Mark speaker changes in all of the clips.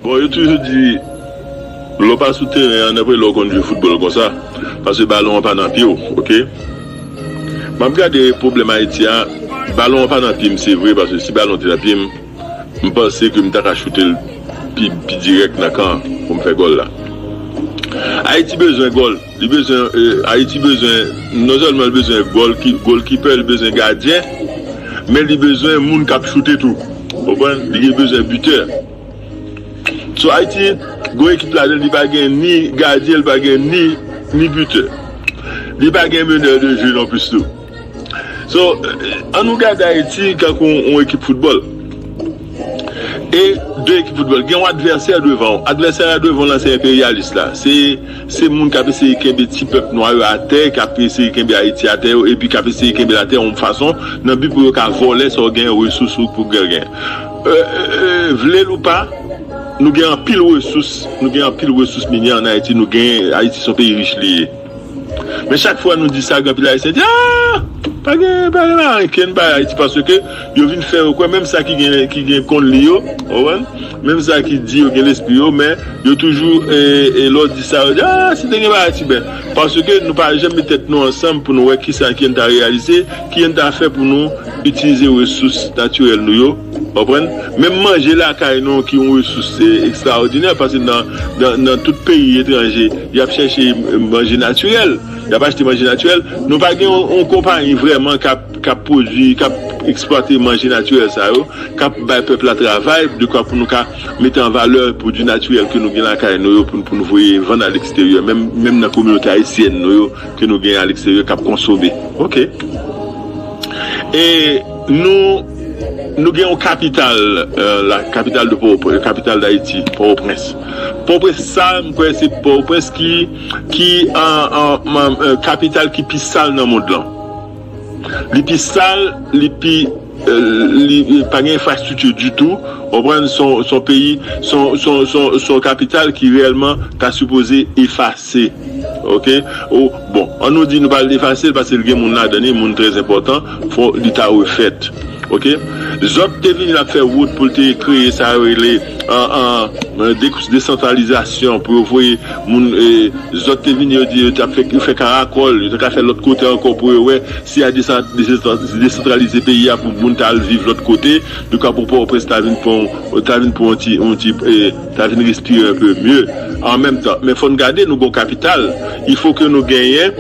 Speaker 1: Bon yo toujou di lè w pa sou teren an nenpòt lè w konn jwe foutbòl konsa paske balon an pa nan pye w ok m ap gade pwoblèm Ayiti a balon an pa nan pye m se vre paske si balon te nan pye m m panse ke m ta ka choute l pi dirèk nan kan pou m fè gòl la Ayiti bezwen gòl. Li bezwen Ayiti bezwen non sèlman li bezwen golkipè li bezwen gadyen men li bezwen moun kap choute tou ou konprann li bezwen bitè so Ayiti gon ekip ladan l li pa gen ni gadyen li pa gen ni bitè li pa gen menè de je non plis tou. So, an nou gade Ayiti tankou yon ekip foutbòl. E, de ekip foutbòl. Gen yon advèsè devan ou. Advèsè a devan ou la se enperyalis la. Se, se moun k ap eseye kenbe ti pèp nwa yo atè, k ap eseye kenbe Ayiti atè yo, epi k ap eseye kenbe l atè yon fason, nan bi pou yo ka vòlè sa w genyen, resous ou pou gen gen. E, e, vle l ou pa, nou gen anpil resous, nou gen anpil resous minyè an Ayiti, nou gen, Ayiti se yon peyi rich li ye. Men chak fwa nou di sa gen anpil ayisyen di aah pa gen pa gen ankenn pa ayiti paske yo vin fè yo kwè menm sa ki gen ki gen konn li yo ou konprann menm sa ki di yo gen lespri yo men yo toujou e lè w di sa yo di aah si te gen pa ayiti ben paske nou pa janm met tèt nou ansanm pou nou wè kisa ki yo n ta reyalize ki yo n ta fè pou nou itilize resous natirèl nou yo ou konprann menm manje lakay nou ki yon resous ekstraòdinè paske nan nan tout peyi etranje Y ap chèche manje natirèl, y ap achte manje natirèl. Nou pa gen yon konpayi vrèman k ap pwodui, k ap eksplwate manje natirèl sa yo, k ap bay pèp la travay dekwa pou nou ka mete an valè pwodui natirèl ke nou gen lakay nou yo pou nou voye vann aleksteryè, menm nan kominote ayisyèn nou yo ke nou gen aleksteryè k ap konsome. Ok. E nou gen yon kapital la, kapital de Pòwoprens, kapital Dayiti, Pòwoprens. Pòtoprens sal, m kwè se Pòtoprens ki ki kapital ki pi sal nan mond lan. Li pi sal, li pi li pa gen enfrastrikti ditou, ou konprann, s on peyi, s on kapital ki reyèlman ta sipoze efase. Se ok oh bon an nou di nou pa vle efase l paske l gen moun ladan l e moun trè enpòtan fò li ta refèt ok zòt te vini ap fè wout pou l te kreye sa yo rele desantralizasyon pou yo voye moun zòt te vini yo di yo tap fè yo fè karakòl yo ta ka fè lòt kote ankò pou yo wè si ya desantralize peyi a pou moun ta al viv lòt kote yo ka pou pòtoprens ta vin pou yon ti Na vin respire un peu mieux en menm tan men fò n gade nou gon kapital il faut ke nou genyen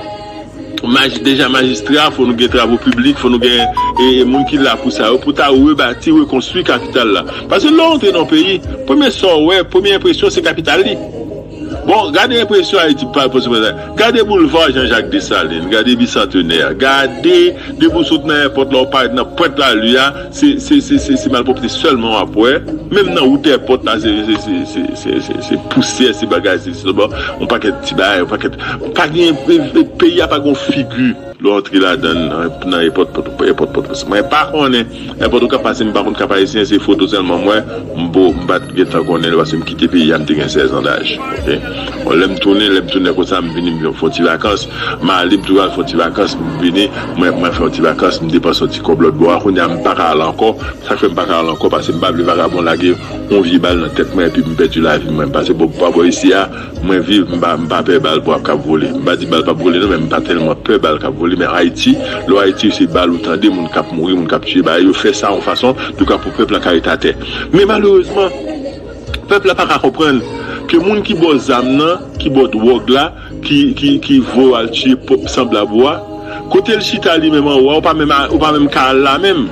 Speaker 1: maj deja majistra fò nou gen travo piblik fò nou gen e moun ki la pou sa yo pou ta rebati rekonstwi kapital la paske lè w antre nan yon peyi premye sa w wè premye enpresyon se kapital li bon gade enpresyon ayiti pa pòtoprens la gade boulva jan jak desalin gade bisantenè gade depi w sot nan èpòt la w parèt nan pwent lari a Se malpwopte selman wap wè, menm nan wout èpòt la se pousyè se bagay se sèlman yon pakèt ti bagay yon pakèt, pa gen peyi a pa gen yon figi lè w antre ladann nan èpòt pòtoprens mwen pa konnen èpòt okap paske m pa konn kap ayisyen se foto sèlman m wè m pat gentan konnen l paske m kite peyi a m te gen 16 an daj ok bon lè m tounen lè m tounen konsa m vini m fon ti vakans. Male m toujou al fè yon ti vakans m vini mwen mwen fè yon ti vakans m depanse yon ti kòb lòt bò a kounya m paka al ankò sak fè m paka al ankò pase m pa vle vakabon lage yon vye bal nan tèt mwen epi m pèdi lavi mwen pase bò pa bò isi a mwen viv m pa m pa pè bal bal kap vole m pa di bal pap vole non men m pa tèlman pè bal kap vole men ayiti lè w ayiti se bal ou tande moun kap mouri moun kap tiye bagay yo fè sa yon fason yo ka pou pèp la ka ret atè men malerezman pèp la paka konprann ke moun ki bò zam nan ki bò dwòg la. ki voye w al tiye pwòp sanblab ou a kote l chita li menm anwo a ou pa menm ka al la menm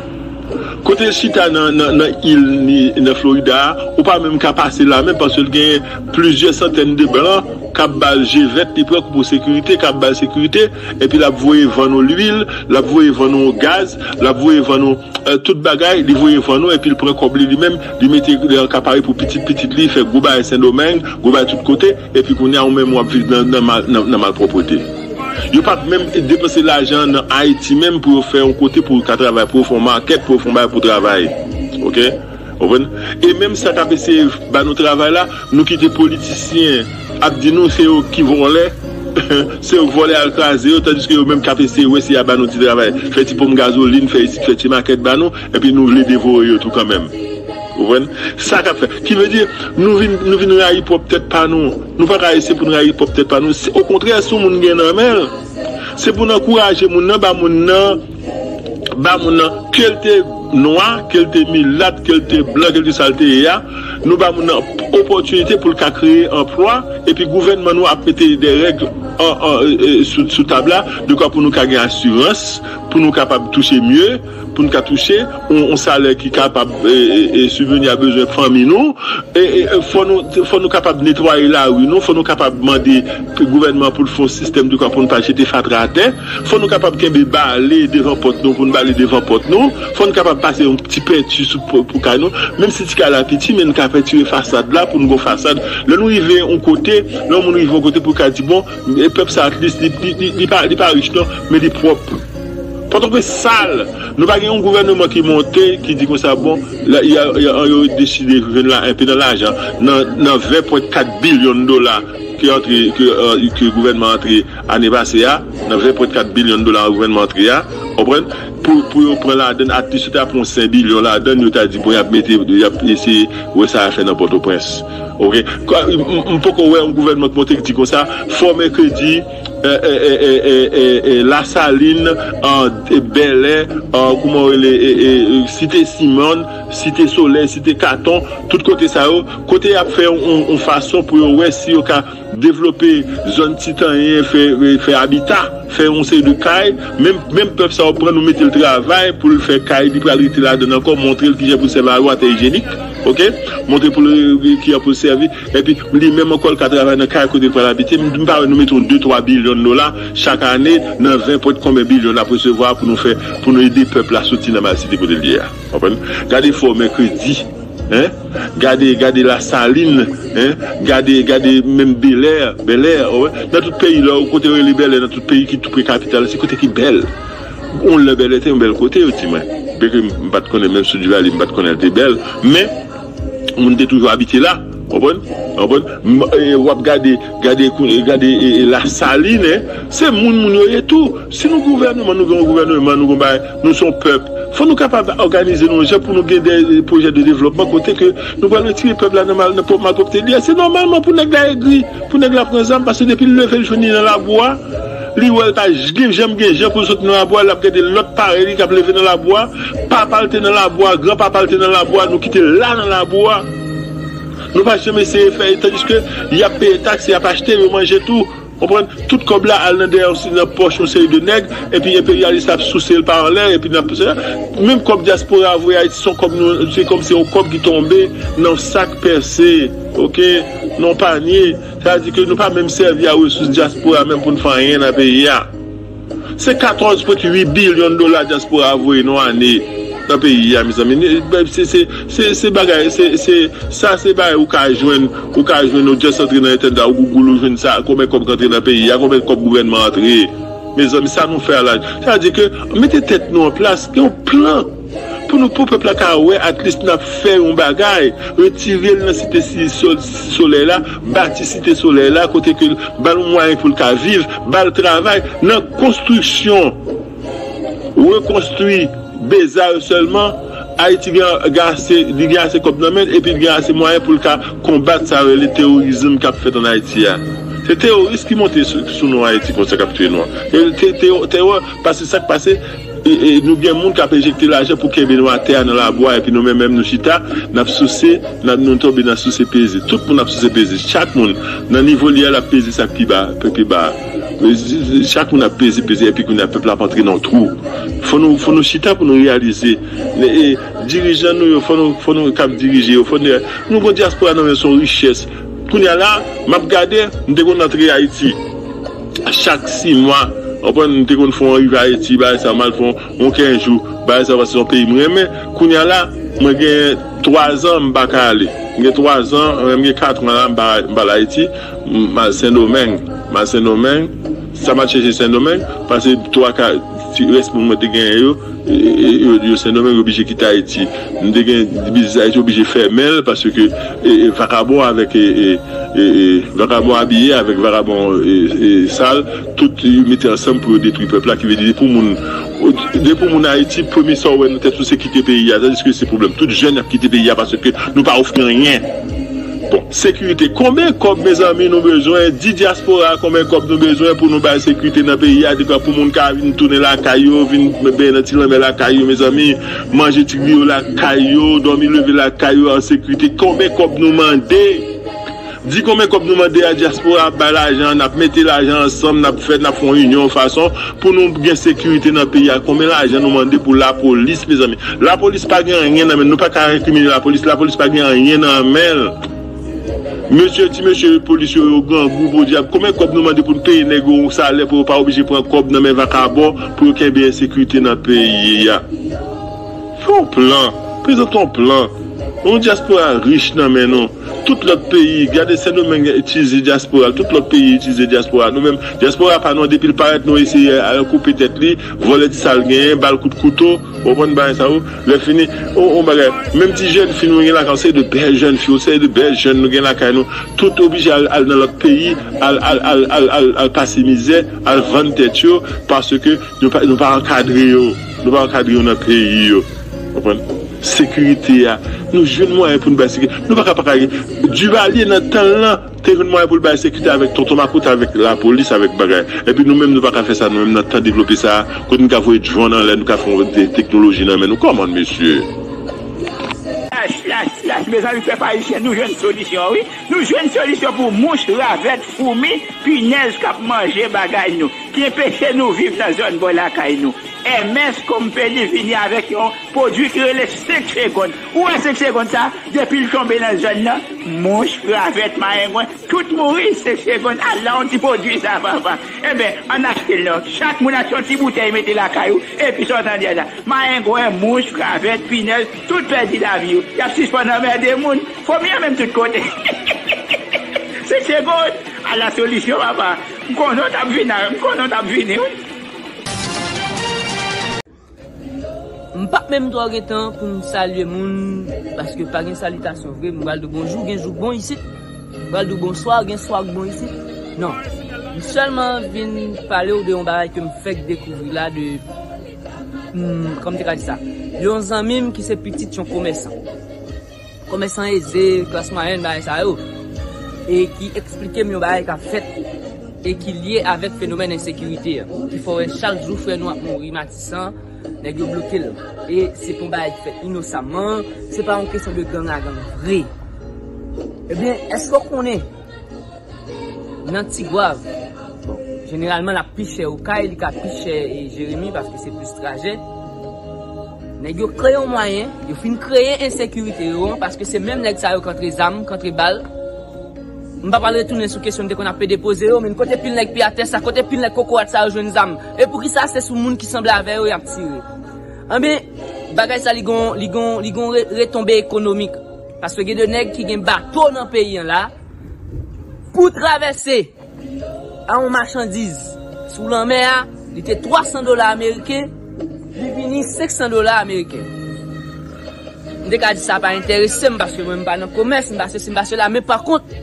Speaker 1: kote l chita nan il ni nan florida a ou pa menm ka pase la menm paske l gen plizyè santèn de blan k ap ba l je vèt li pran kou pou sekirite k ap ba l sekirite epi l ap voye vann ou lwil l ap voye vann ou gaz l ap voye vann ou tout bagay li voye vann ou epi l pran kòb li li menm li mete li an ka pare pou pitit pitit li fè gwo bagay sendomeng gwo bagay tout kote. Epi kounya ou menm wap viv nan malpwoprete. Yo pap menm depanse lajan nan Haiti menm pou yo fè yon kote pou ka travay pou yo fè yon market pou yo fè yon bagay pou travay ok ou konprann e menm sa kap eseye ba nou travay la nou kite politisyen ap di nou se yo ki vòlè se yo k vòlè al kraze yo tandiske yo menm kap eseye wè si ya ba nou ti travay fè ti ponp gazolin fè isit fè ti market ba nou Epi nou vle devore yo tou kanmenm. Ou konprann? Sa k'ap fè. Ki vle di, nou vin, nou vin rayi pwòp tèt pa nou. Nou pa ka eseye pou nou rayi pwòp tèt pa nou. Si, okontrè, si yon moun gen nan men l, se pou n ankouraje moun nan, ba moun nan, ba moun nan, ke l te nwa, ke l te milat, ke l te blan, ke l te sa l te ye a, nou ba moun nan opòtinite pou l ka kreye anplwa, epi gouvènman nou ap mete dè règ an, an, sou, sou tab la, dekwa pou nou ka gen asirans, pou nou kapab touche mye. pou n ka touche yon salè ki kapab sibveni a bezwen fanmi nou, fò nou kapab netwaye lari nou, fò nou kapab mande gouvènman an pou l fè yon sistèm dekwa pou n pa jete fatra atè, fò nou kapab kenbe bale devan pòt nou pou n bale devan pòt nou, fò n kapab pase yon ti penti pou kay nou, menm si ti kay la piti men n ka pentire fasad la pou n gen yon fasad, lè nou rive yon kote, lè yon moun rive yon kote pou l ka di bon pèp sa atlis li pa rich non men li pwòp. Pòtoprens sal! Nou pa gen yon gouvèneman ki monte, ki di konsa bon, yo deside jwenn la enpe nan lajan, nan 20 pwent 4 bilyon dola ki antre, ke gouvènman antre ane pase a, nan 20 pwent 4 bilyon dola gouvènman antre a, ou konprann, pou yo pran ladann, at least yo ta pran yon 5 bilyon ladann, yo ta di bon yap mete, yap eseye wè sa yap fè nan Pòtoprens. Ok. M poko wè yon gouvènman ki monte ki di konsa, fòme kredi. La salin, bèlè, kouman yo rele site simòn, site solèy, site katon, tout kote sa yo, kote yap fè yon fason pou yo wè si yo ka devlope zòn ti tanyen fè abita, fè yon seri de kay, menm pèp sa yo pran nou metel travay poul fè kay li pral rete ladann ankò, montrel kijan poul sèvi a yon atè ijyenik ok, montrel kijan poul sèvi. Epi, li menm ankò, l ka travay nan kay kote l pral abite. M pa wè nou mete yon de twa bilyon dola chak ane nan ven pwent konben bilyon n ap resevwa pou nou fè, pou nou ede pèp la soti nan malsite kote l ye a. W konprann? Gade Fò Mèkredi, hein? Gade, gade Lasalin, hein? Gade, gade menm Belè, Bèlè, w konprann? Nan tout peyi lè w, kote yo rele Bèlè nan tout peyi ki toupre kapital la, se kote ki bèl. Yon lè Bèlè te yon bèl kote, yo di mwen. Byenke m pa t konnen menm sou Duvalier, m pa t konnen l te bèl. Men. Moun te toujou abitye la, konprann, konprann, m e wap gade, gade kou, gade e e la salin e, se moun moun yo ye tou, si nou gouvènman nou gen yon gouvèneman nou gen yon bagay, nou se yon pèp, fò nou kapab òganize nou yon jan pou nou gen dè pwojè de devlòpman kote ke nou pral retire pèp la nan mal nan pwòp malpwòpte li a, se nòmalman pou nèg la egri, pou nèg la pran zam, paske depi l leve l jwenn li nan labou a, li wè l pa j gen janm gen jan pou l soti nan labou a, lap gade lòt parèy li kap leve nan labou a. Papa l te nan labou a, gran papa l te nan labou a, nou ki te la nan labou a, nou pa janm eseye fè, tandiske y ap peye taks, y ap achte, yo manje tou, konprann, tout kòb la al nan dèyè yon, nan pòch yon seri de nèg, epi enperyalis la ap souse l pa anlè, epi n ap, menm kòb dyaspora a voye Ayiti se yon kòb nou, se kòm se yon kòb ki tonbe nan yon sak pèse, oke, nan yon panye, sa vle di ke nou pa menm sèvi a resous dyaspora menm pou n fè anyen nan peyi a. Se 14 pwent 8 billion dola diaspora a voye nou ane nan peyi a mezanmi se bagay sa se bagay ou ka jwenn ou ka jwenn ou just antre nan entènèt la ou gougoul ou jwenn sa konbyen kòb k antre nan peyi a konbyen kòb gouvènman antre mezanmi sa nou fè a la sa vle di ke mete tèt nou an plas gen yon plan. Pou nou pou pèp la ka wè at least nap fè yon bagay, retire l nan site solèy la, bati site solèy la kote ke ba l mwayen pou l ka viv, ba l travay nan konstriksyon, rekonstri Bezarr sèlman, Ayiti gen ase, li gen ase kòb nan men l epi l gen ase mwayen pou l ka konbat sa yo rele terorizm kap fèt an Ayiti a. Se teroris ki monte sou nou an Ayiti konsa kap touye nou an. Terò, paske sak pase. Nou gen moun k ap enjekte lajan pou kenbe nou atè a nan labwa epi nou menm menm nou chita n ap souse, nou tonbe nan souse peze. Tout moun ap souse peze. Chak moun, nan nivo li a, l ap peze sa k pi ba a, pi ba a. Chak moun ap peze, peze epi kounye a pèp la ap antre nan yon twou. Fò nou, fò nou chita pou nou reyalize. Dirijan nou yo, fò nou, fò nou k ap dirije yo, fò nou. Nou gen yon dyaspora nan men yo, se yon richès. Kounye a la, m ap gade, m te konn antre Ayiti. Chak si mwa, ou konprann, m te konn fè yon rivaye ti bagay sa, m al fè yon kenz jou, bagay sa paske se yon peyi m renmen. Kounye a la, mwen gen twazan m pa ka ale. M gen twazan, m gen katran la m pa al Ayiti. M al Sendomeng. M al Sendomeng. Sa m al chèche Sendomeng, pase twa ka ti rès moun mwen te genyen yo, yo sendomeng yo blije kite ayiti m te gen biznis ayiti yo blije fèmenl paske vakabon avèk vakabon abiye avèk vakabon sal tout yo mete ansanm pou yo detwi pèp la kivèdi depi w moun depi w moun ayiti premye sa w wè nan tèt ou se kite peyi a tandiske se pwoblèm tout jèn ap kite peyi a paske nou pa ofri anyen. Bon sekirite konben kòb mezanmi nou bezwen di diaspora konben kòb nou bezwen pou nou bay sekirite nan peyi a depa pou moun ka vin tounen lakay yo vin benyen nan ti lanmè lakay yo mezanmi manje ti griyo lakay yo dòmi leve lakay yo an sekirite konben kòb nou mande di konben kòb nou mande a diaspora ap bay lajan nap mete lajan ansanm nap fè nap fon inyon fason Pou nou gen sekirite nan peyi a konbyen lajan nou mande pou lapolis mezanmi lapolis pa gen anyen nan men nou paka rekrimine lapolis lapolis pa gen anyen nan menl mesye ti mesye polis yo yo grangou podyab konbyen kòb nou mande pou nou peye nèg yo yon salè pou yo pa oblije pran kòb nan men vakabon pou yo kenbe ensekirite nan peyi a fè yon plan prezante yon plan yon dyaspora rich nan men nou. Tout lòt peyi, gade sendomeng itilize dyaspora, tout lòt peyi itilize dyaspora, nou menm dyaspora pa nou an depil parèt nou eseye al koupe tèt li, vòlè ti sal genyen, bal kout kouto, ou konprann bagay sa wi, lè fini yon bagay, menm ti jèn fi nou gen lakay yon seri de bèl jèn fi, yon seri de bèl jèn nou gen lakay nou, tout oblije al al nan lòt peyi al al al al al al pase mizè, al vann tèt yo paske nou pa nou pa ankadre yo. Nou pa ankadre yo nan peyi yo. Konprann? Sekirite a, nou jwenn mwayen pou nou bay sekirite. Nou pa ka pa ka gen. Duvalier nan tan l lan te jwenn mwayen pou l bay sekirite avèk tonton makout avèk lapolis avèk bagay. Epi nou menm nou pa ka fè sa nou menm nan tan devlope sa a kote nou ka voye drone anlè nou ka fè yon teknoloji nan men nou. Come on mesye! Yach yach
Speaker 2: yach mezanmi pèp ayisyen nou jwenn solisyon wi nou jwenn solisyon pou mouch, ravèt, foumi, pinèz kap manje bagay nou. Ki enpeche nou viv nan zòn bò lakay nou. MS Company vini avèk yon pwodui ki rele 5 segond. Ou wè 5 segond sa, depi l tonbe nan zòn nan, mouch, ravèt, mayengwen, tout mouri 5 segond. Ala yon ti pwodui sa papa! Enben, ann achte l non. Chak moun achte yon ti boutèy mete lakay ou, epi sa w tande a la, mayengwen, mouch, ravèt, pinèz, tout pèdi lavi yo. Y ap sispann anmède moun. Fomi an menm tout kote. 5 segond! Ala solisyon papa! M konnen w tap vini m konnen
Speaker 3: w tap vini wi. M pap menm twò gen tan pou m salye moun paske pa gen salitasyon vre m pral di w bonjou gen jou k bon isit m pral di w bonswa gen swa k bon isit non m sèlman vin pale w de yon bagay ke m fèk dekouvri la de yon zanmi m ki se pitit yon komèsan Komèsan eze, klas mwayèn bagay sa yo e ki eksplike m yon bagay k ap fèt e ki lye avèk fenomèn ensekirite an ki fè w wè chak jou frè nou ap mouri Matisan nèg yo bloke l e se pou bagay ki fèt inosaman se pa yon kesyon de gang a gang vre ebyen èske w konnen Nan Tigwav, bon, jeneralman l ap pi chè Okay, li ka pi chè Jeremi paske se plis trajè. Nèg yo kreye yon mwayen, yo fin kreye ensekirite yo an paske se menm nèg sa yo ki antre zam, ki antre bal. M pa pral retounen sou kesyon m te konn ap pede poze yo men kote pil nèg piyatè sa, kote pil nèg kokorat sa yo jwenn zam? E poukisa se sou moun ki sanble avè yo y ap tire? Enben, bagay sa li gen yon retonbe ekonomik paske gen de nèg ki gen bato nan peyi an la. Pou travèse a yon machandiz sou lanmè a, li te 300 dola ameriken, li vini 500 dola ameriken. M te ka di sa pa enterese m paske mwen m pa nan komès, m pa sesi, m pa sela, men pa kont,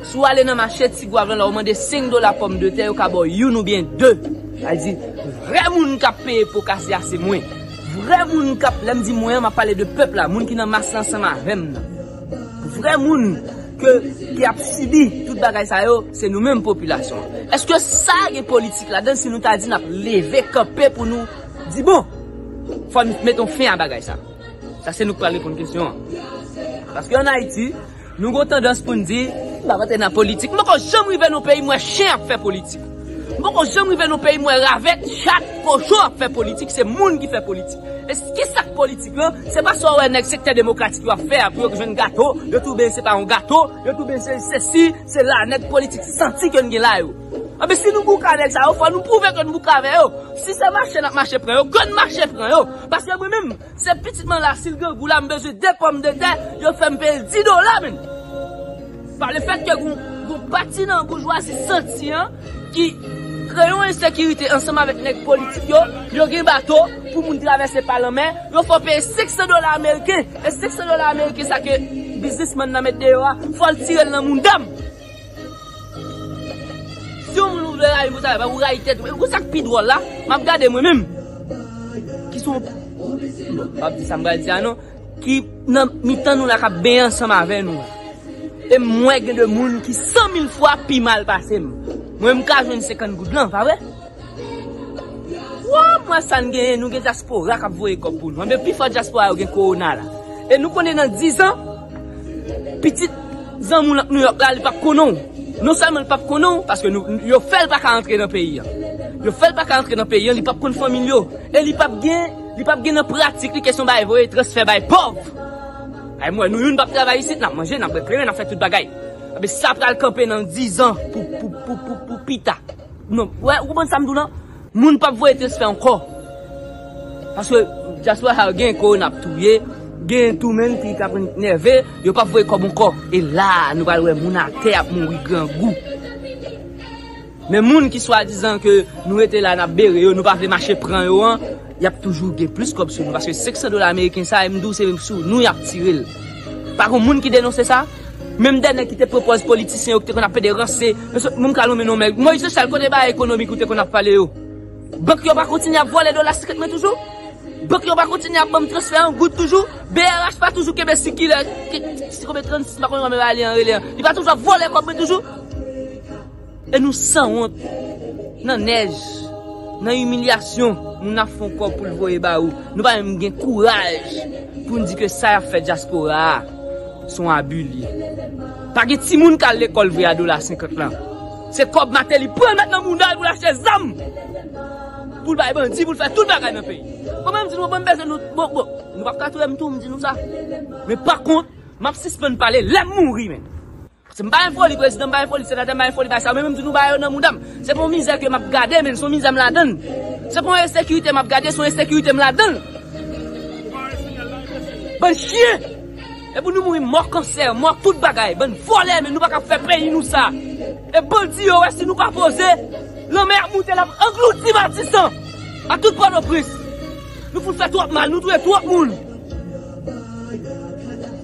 Speaker 3: si w ale nan mache Ti Gwav lan la ou mande 5 dola pòm de tè yo ka ba w youn oubyen de. Sa vle di, vrè moun k ap peye po kase a se mwen. Vrè moun k ap, lè m di mwen an, m ap pale de pèp la, moun ki nan mas la ansanm avè m nan. Vrè moun ke ki ap sibi tout bagay sa yo se nou menm popilasyon an. Eske sa gen politik ladan si nou ta di nap leve kanpe pou nou di bon fò n met yon fen a bagay sa. Sa se nou k pral reponn kesyon an. Paske an Ayiti nou gon tandans pou n di m pa rantre nan politik. M poko janm rive nan yon peyi m wè chen ap fè politik. M poko janm rive nan yon peyi m wè ravèt, chat, kochon ap fè politik. Se moun ki fè politik. E kisa k politik? yo, se pa sa w wè nèg sektè demokratik yo ap fè a pou yo k jwenn gato, yo touben se pa yon gato, yo touben se sesi, se la, nèg politik santi ke n gen la yo. Anben si nou bouke avèk sa yo, fò nou pwouve ke n bouke avè yo. Si se mache n ap mache pran yo, ke n mache pran yo. Paske mwen menm, se pitit m an la, si l grangou la, m bezwen 2 pòm de tè, yo fè m peye l 10 dola menn. Pa le fèt ke gon pati nan boujwazi santi an ki kreye yon ensekirite ansanm avèk nèg politik yo, yo gen bato pou moun travèse pa lanmè, yo fè w peye 500 dola ameriken, e 500 dola ameriken sa ke biznismann nan met deyò a, fò l tire l nan mounda m. Si yon moun ou vle rayi m pou travay pa w, ou rayi tèt ou. E konsa k pi dwòl la, m ap gade mwen menm, ki se yon, m pap di sa m pral di a non. Ki nan mitan nou la kap benyen ansanm avè nou la. E mwen gen de moun ki san mil fwa pi mal pase m. Mwen m ka jwenn 50 goud lan, pa vre? Woo m wè sa n genyen, nou gen dyaspora kap voye kòb pou nou. Anben pi fò dyaspora yo gen kowona la. E nou konnen nan 10 an, pitit zanmi w lan k Nouyòk la li pap konnen w. Non sèlman li pap konnen w, paske yo fè l pa ka antre nan peyi an. Yo fè l pa ka antre nan peyi an, li pap konn fanmi l yo. E li pap gen. Li pap gen nan pratik li kesyon bay voye transfè bay pòv Ay mwen nou youn pap travay isit nap manje nap bwè kleren nap fè tout bagay Ebyen sa pral kanpe nan 10 an pou pou pou pou pou pita Nou wè ou konprann sam di w lan Moun pap voye transfè ankò Paske dyaspora sa yo gen korona ap touye Gen tou menn ki ta konn nève yo pap voye kòb ankò E la nou pral wè moun atè ap mouri grangou. Men moun ki swadizan ke nou rete la nap bere yo, nou pa vle mache pran yo an, yap toujou gen plis kòb sou nou paske 500 dola ameriken sa em di w se sou nou yap tire l. Pa gon moun ki denonse sa? Menm dè nèg ki te pwopòz politisyen yo ki te konn ap pede ranse, yo sot menm ka lonmen non mèg. Moyiz Jochal kote bagay ekonomik ou te konn ap pale yo? Bank yo pa kontinye ap vòlè dola 50 mwen toujou? Bank yo pa kontinye ap ban m transfè an goud toujou? BRH pa toujou kenbe sikilè, si konbyen 36 m pa konn konbyen bagay li an rele an, li pa toujou ap vòlè kòb mwen toujou? E nou sanwont nan nèj, nan imilyasyon moun ap fon kòb poul voye ba ou, nou pa menm gen kouraj poun di ke sa yap fè dyaspora a son abi li ye. Pa gen timoun kal lekòl vre a dola 50 lan. Se kòb Mateli pran met nan moudal poul achte zam, poul bay bandi, poul fè tout bagay nan peyi. Bon mwen di nou mwen bezwen nou, bon bon nou pap ka touyem tou mdi nou sa. Men pa kont map sispann pale lèm mouri menm. Se m pa enfoli prezidan m pa enfoli senatè m pa enfoli bay sa yo men menm tou nou bay yo nan mouda m se pa yon mizè ke m ap gade men son mizè m ladan l se pa yon ensekirite m ap gade son ensekirite m ladan l bann chyen e pou nou mouri mò kansè mò tout bagay bann vòlè men nou pa ka fè peyi nou sa e bandi yo wè si nou pa poze lanmè ap moute l ap anglouti matisan ak tout pòtoprens nou fout fè twòp mal nou touye twòp moun.